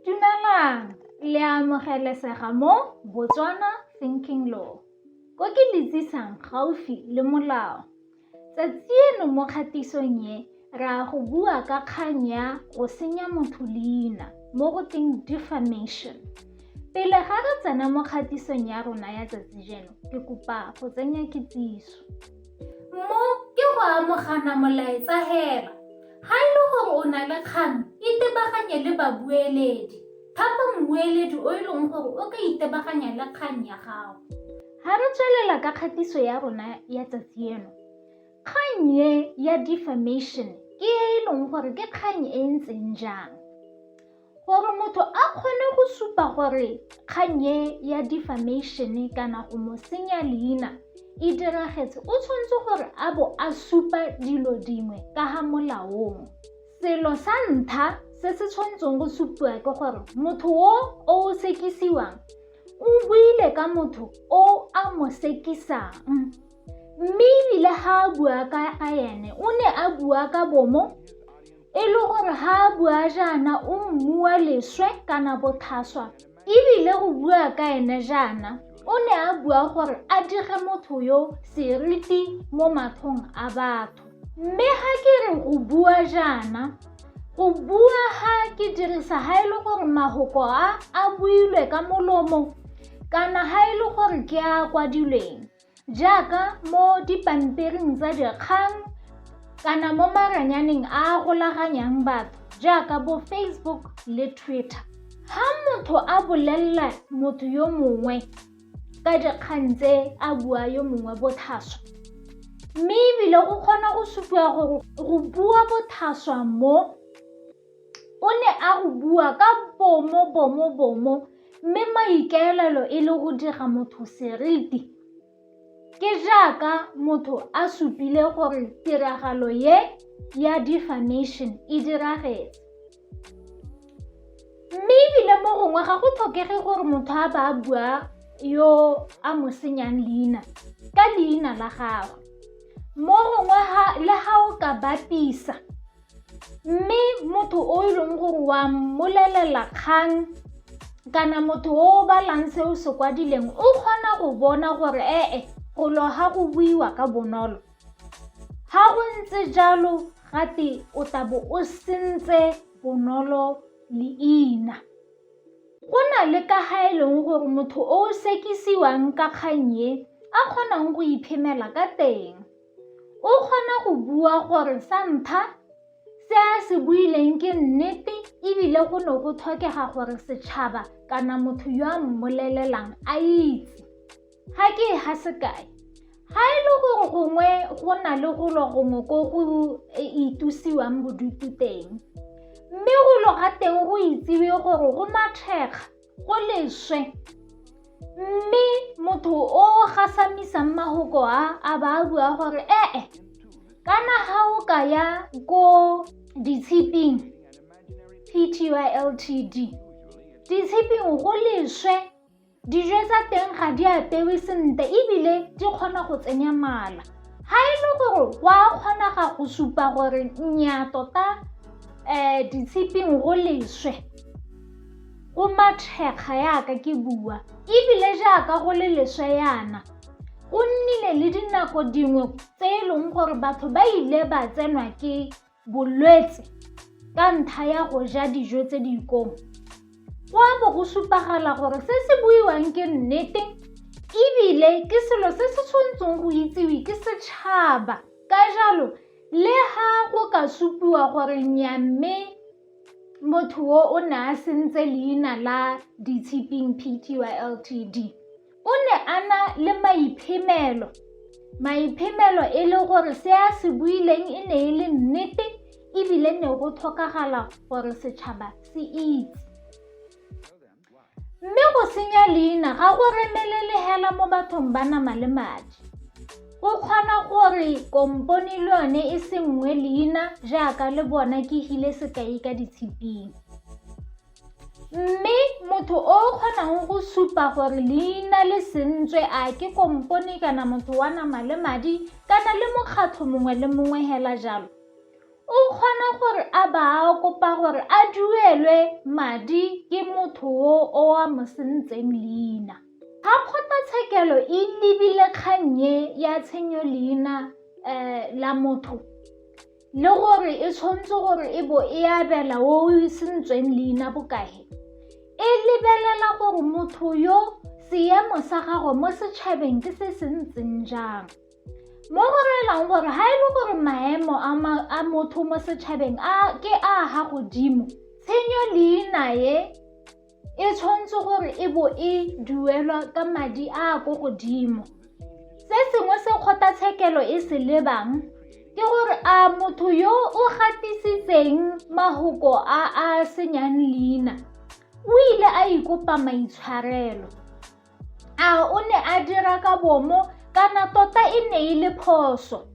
Dumelang, le a amogelesega mo Botswana Thinking Law. Ko ke le tsisang gaufi le molao. Tsatsi eno mo kgatisong e, re a go bua ka kgang ya go senya motho leina mo go teng defamation. Pele ga re tsena mo kgatisong ya rona ya tsatsi jeno, ke kopa go tsenya kitsiso. Mo ke go amogana molaetsa hela. Ga e le gore o na le kgang, itebaganye le babueledi. Thapa mmueledi o e leng gore o ka itebaganya le kgang ya gago. Ga re tswelela ka kgatiso ya rona ya tsatsi eno, kgang e ya defamation ke e e leng gore ke kgang e e ntseng jang? Gore motho a kgone go supa gore kgang e ya defamation kana go mo senya leina e diragetse o tshwanetse gore a bo a supa dilo dingwe ka ga molaong selo sa ntlha se se tshwanetseng go supiwa ke gore motho o o sekisiwang o buile ka motho o a mo sekisang mme ebile ga a bua ka ene o ne a bua ka bomo e le gore ga a bua jaana o mmua leswe kana bothaswa ebile go bua ka ene jaana o ne a bua gore a dire motho yo seriti mo mathong a batho mme ga ke re go bua jaana go bua ga ke dirisa ga e le gore magoko a a builwe ka molomo kana ga e le gore ke a kwadilweng jaaka mo dipampiring tsa dikgang kana mo maranyaneng a a golaganyang batho jaaka bo facebook le twitter ha motho a bolelela motho yo mongwe ka dikgang tse a bua yo mongwe bothaswa mme ebile o kgona go supiwa gore go bua bothaswa mo O ne a go bua ka bomobomobomo mme maikaelelo e le go dira motho seriti. Ke jaaka motho a supile gore tiragalo ye ya defamation e diragetse. Mme ebile mo gongwe ga go tlhokege gore motho a ba a bua yo a mo senyang leina ka leina la gagwe. Mo gongwe le ga o ka bapisa mme motho o e leng gore wa mmolelela kgang kana motho o o balang se o se kwadileng o kgona go bona gore ee golo ga go buiwa ka bonolo ga go ntse jalo gate o tabo o sentse bonolo leina go na le ka ga e leng gore motho o sekisiwang ka kgang e a kgonang go iphemela ka teng O kgona go bua gore sa ntlha se a se buileng ke nnete ebile go ne go tlhokega gore setšhaba kana motho yo a mmolelelang a itse ga ke e ga sekae ga e le gore gongwe go na le golo gongwe ko go e itusiwang bodutu teng mme golo ga teng go itsewe gore go mathekga go leswe mme motho o gasamisang mahoko a a ba a bua gore ee kana ga o ka ya ko ditshiping ptyltd ditshiping go leswe dijo tsa teng ga di apewe sentle ebile di kgona go tsenya mala ga e le gore go a kgonaga go supa gore nnyaa tota um ditshiping go leswe O mathekga yaka ke bua, ebile jaaka go le leswe yana. Go nnile le dinako dingwe tse e leng gore batho ba ile ba tsenwa ke bolwetse ka ntlha ya go ja dijo tse di ikong. Go a bo go supagala gore se se buiwang ke nnete ebile ke selo se se tshwanetseng go itsiwe ke setšhaba. Ka jalo le ha go ka supiwa gore nyamme Motho o o ne a sentse leina la Ditshiping Pty Ltd o ne a na le maiphemelo. Maiphemelo e le gore se a se buileng e ne e le nnete ebile ne go tlhokagala gore setšhaba se itse. Mme go senya leina ga go remelele hela mo bathong ba nama le madi. O kgona gore kompone le yone e sengwe leina jaaka le bona ke hile sekai ka ditshiping. Mme motho o kgonang go supa gore leina le sentswe a ke kompone kana motho wa nama le madi kana le mokgatlho mongwe le mongwe hela jalo, O kgona gore a ba a kopa gore a duelwe madi ke motho o o a mo sentseng leina. Ga kgotlatshekelo e lebile kgang e ya tshenyo leina um la motho le gore e tshwanetse gore e bo e abela o o sentsweng leina bokae, e lebelela gore motho yo seemo sa gagwe mo setšhabeng ke se se ntseng jang. mo go relang gore ga e le gore maemo a motho mo setšhabeng ke a ga godimo tshenyo leina e e tshwanetse gore e bo e duelwa ka madi a a ko godimo se sengwe se kgothatshekelo e se lebang ke gore a motho yo o gatisitseng mahoko a a senyang leina o ile a ikopa maitshwarelo A o ne a dira ka bomo kana tota e ne e le phoso?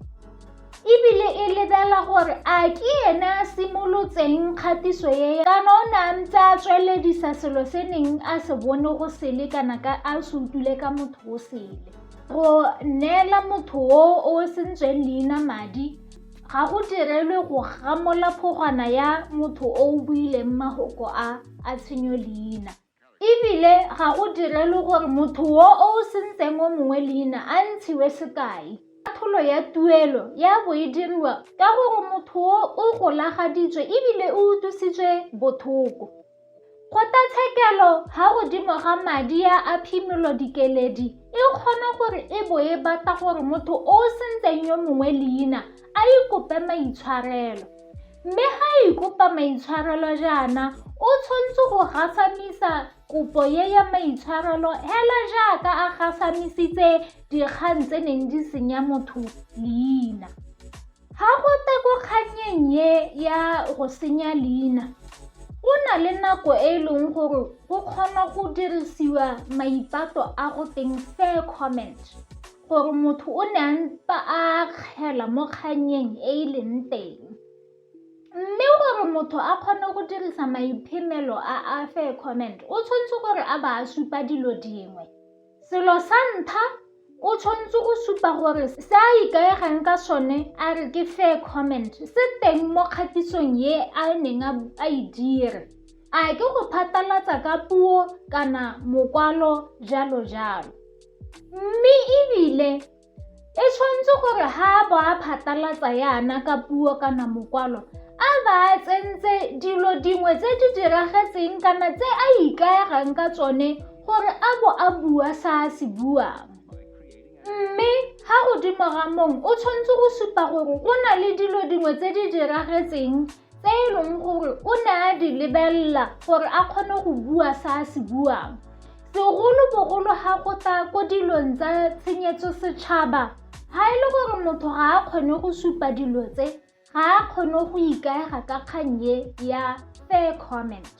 Ebile e lebela gore a ke ene a simolotseng kgatiso e kana o ne a ntse a tsweledisa selo se neng a se bone go sele kana ka a se utlwile ka motho o sele. Go neela motho o o sentsweng leina madi ga go direlwe go gamola phogwana ya motho o o buileng magoko a a tshenyo leina. E bile ga go direlwe gore motho yo o sentseng o mongwe leina a ntshiwe sekai. Katlholo ya tuelo ya bo e diriwa ka gore motho yo o golagaditswe e bile o utlwisitswe bothoko. Kgotlatshekelo ga godimo ga madi ya a phimolo dikeledi e kgona gore e bo e batla gore motho o sentseng yo mongwe leina a ikope maitshwarelo. Mme ga a ikopa maitshwarelo jaana, o tshwanetse go gasamisa kopo ye ya maitshwarelo hela jaaka a gasamisitse dikgang tse neng di senya motho leina. Ga go te ko kgannyeng ye ya go senya leina, go na le nako e e leng gore go kgona go dirisiwa maipato a go teng fair comment. gore motho o ne a ntse a kgela mo kgannyeng e e leng teng. Mme gore motho a kgone go dirisa maiphemelo a a fair comment o tshwanetse gore a ba a supa dilo dingwe. Selo sa ntlha o tshwanetse go supa gore se a ikaegang ka sone a re ke fair comment se teng mo kgatisong e a neng a e dire. A ke go phatlalatsa ka puo kana mokwalo jalo jalo. Mme ebile e tshwanetse gore ha a bo a phatalatsa yana ka puo kana mokwalo a ba a tsentse dilo dingwe tse di diragetseng kana tse a ikaegang ka tsone gore a bo a bua sa a se buang mme ga godimo ga mong o tshwanetse go supa gore go na le dilo dingwe tse di diragetseng tse e leng gore o ne a di lebelela gore a kgone go bua se a se buang segolobogolo ga go tla ko dilong tsa tshenyetso setšhaba ga e le gore motho ga a kgone go supa dilo tse ga a kgone go ikaega ka kgang e ya fair comment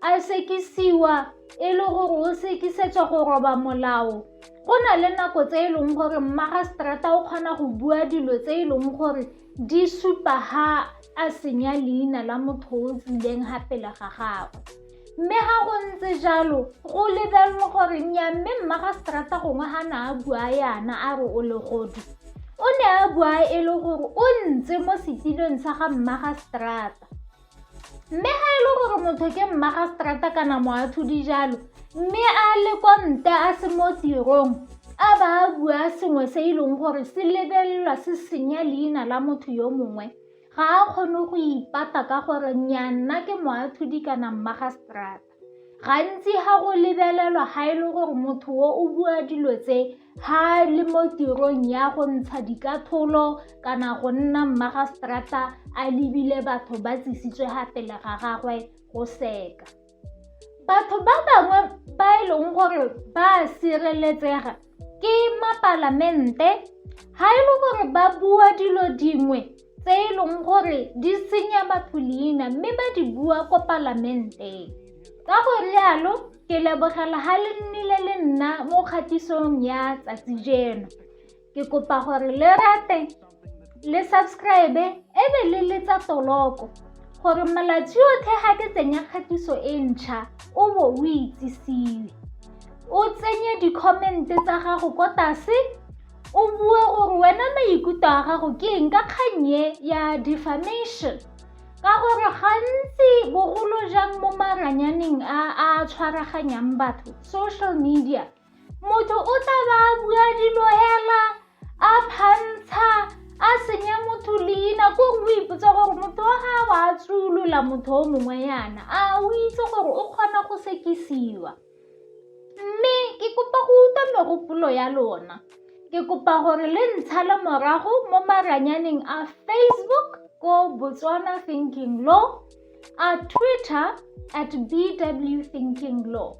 a sekisiwa e le gore o sekisetswa go roba molao go na le nako tse e leng gore mmagaseterata o kgona go bua dilo tse e leng gore di supa ha a senya leina la motho o tswileng ga pele ga gagwe mme ga go ntse jalo go lebelelwa gore nya mme mmagaseterata gongwe ga na a bua yana a re o legodu o ne a bua e le gore o ntse mo setilong sa ga mmagaseterata mme ga e le gore motho ke mmagastrata kana moathodi jalo mme a le kwa nta a se mo tirong a ba a bua sengwe se e leng gore se lebelelwa se senya leina la motho yo mongwe ga a kgone go ipata ka gore nnya nna ke moathodi kana mmagastrata gantsi ga go lebelelwa ga e le gore motho o o bua dilo tse ga le mo tirong ya go ntsha dikatholo kana go nna mmagastrata a lebile batho ba tsisitswe ga pele ga gagwe go seka batho ba bangwe ba e leng gore ba sireletsega ke mapalamente ga e le gore ba bua dilo dingwe tse e leng gore di senya batho leina mme ba di bua ko palamenteng ka go rialo ke lebogela ga le nnile le nna mo kgatisong ya tsatsi jeno ke kopa gore le rate le subscribe e be le letsa toloko gore malatsi otlhe ga ke tsenya kgatiso e ntšha o bo o itsisiwe o tsenye di-comment tsa gago ko tlase o bue gore wena maikutlo a gago ke eng ka kgannye ya defamation ka gore gantsi bogolo jang mo maranyaneng a a tshwaraganyang batho social media motho o tla ba a bua dilo hela a phantsha a senya motho leina ko o ipotsa gore motho wa ga wa tsolola motho o mongwe yana a o itse gore o kgona go sekisiwa mme ke kopa go utlwa megopolo ya lona ke kopa gore le ntsha le morago mo maranyaneng a facebook ko botswana thinking law a twitter at bw thinking law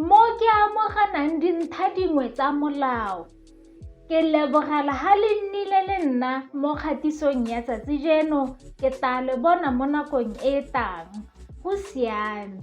Mo ke amoganang dintlha dingwe tsa molao, ke lebogela ha le nnile le nna mo kgatisong ya tsatsi jeno, ke tla le bona mo nakong e e tang. Go siame.